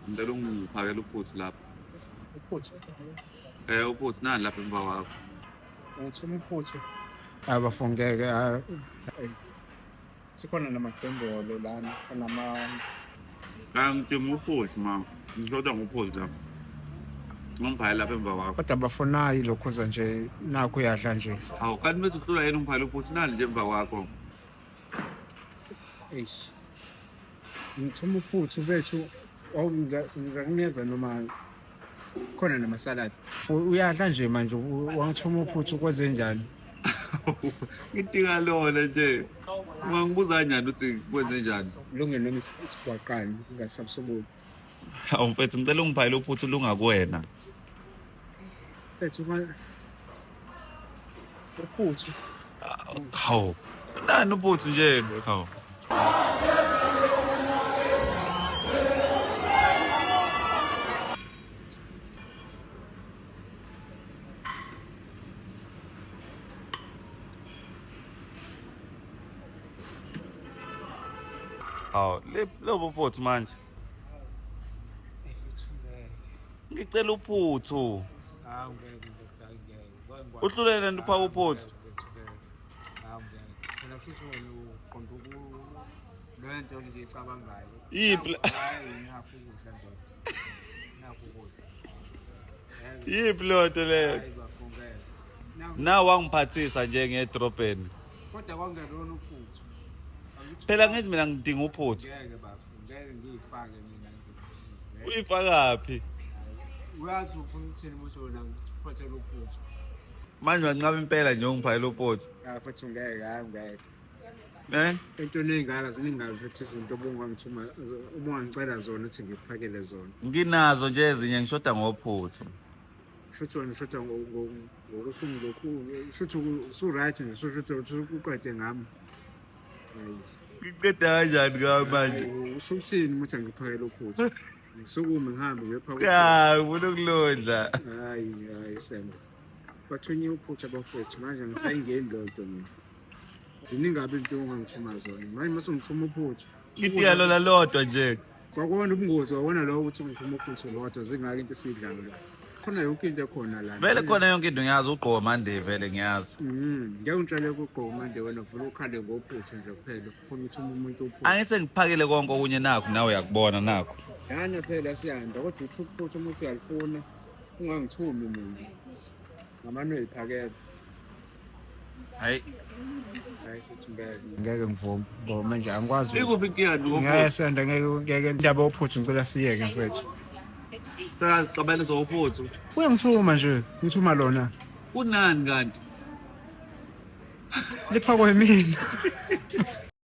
Ngicela ungiphakele uphuthu lapho. Uphuthu. Eh uphuthu nani lapha emva kwakho. Ngithuma uphuthu. Abafungeke hayi. Sikhona namadombolo lana nama Angithuma uphuthu ma. Ngizodwa ngophuthu lapho. Ngomphayela lapha emva kwakho. Kodwa abafunayo lokhuza nje nakho uyadla nje. Awu kanti bethi uhlula yena umphayela uphuthu nani nje emva kwakho. Eish. Ngithuma uphuthu bethu ngingakuneza noma khona namasaladi uyadla nje manje wangithuma uphuthu kwenze njani ngidinga lona nje ungangibuza njani ukuthi kwenze njani lungelo isigwaqane ngasabusoboni Hawu mfethu ngicela ungibhayile uphuthu lungakuwena. Mfethu ma uphuthu. Hawu. Nani uphuthu nje hawu. Hawu, lobo phuthu manje. ngicela uphuthu uhlulele nto uphawu uphuthu lento nje icabangayo yiphi yiphi leyo nto leyo na wangiphathisa nje ngedrobheni kodwa kwangelona uphuthu phela ngithi mina ngidinga uphuthu ngeke ngiyifake mina uyifakaphi uyazi ufuna ukuthini muthi wena ngiphathela uphuthu manje wanqaba impela nje ungiphathela uphuthu futhi ngeke hayi ngeke Eh? Into eningaka ziningayo futhi izinto obungangithuma ubungangicela zona ukuthi ngiphakele zona. Nginazo nje ezinye ngishoda ngophuthu. Shuthi wena ushoda ngokuthi ungilokhu shuthi su-right nje shuthi uqede ngami. Ngiqeda kanjani ngawe manje? Usho ukuthini muthi angiphakele uphuthu? Ngisukume ngihambe ngiyopha uphuthu. Cha, ngifuna ukulondla. Hayi, hayi Sema. Bathunye uphuthu abafowethu manje angisayingeni leyo nto mina. Ziningi kabi izinto ongangithuma zona. Manje mase ungithuma uphuthu. Itiya lona lodwa nje. Kwakona ubungozi wawona lowo ukuthi ngisho umugqinso lodwa zingaki into esiyidlayo la. Khona yonke into ekhona la. Vele khona yonke into ngiyazi ugqoka mande vele ngiyazi. Mhm. Ngeke ngitshele ukugqoka mande wena vula ukhale ngophuthu nje kuphela ufuna ukuthi umuntu uphuthu. Angise ngiphakele konke okunye nakho nawe uyakubona nakho. Yana phela siyanda kodwa uthi uphuthu umuntu uyalifuna ungangithumi mina. ngamane uyiphakele hayi hayi futhi ngeke ngeke ngivume ngoba manje angikwazi ikuphi ikiyadi ngeke senda ngeke ngeke indaba yophuthu ngicela siyeke mfethu sazixabene zophuthu uyangithuma nje ngithuma lona kunani kanti liphakwe mina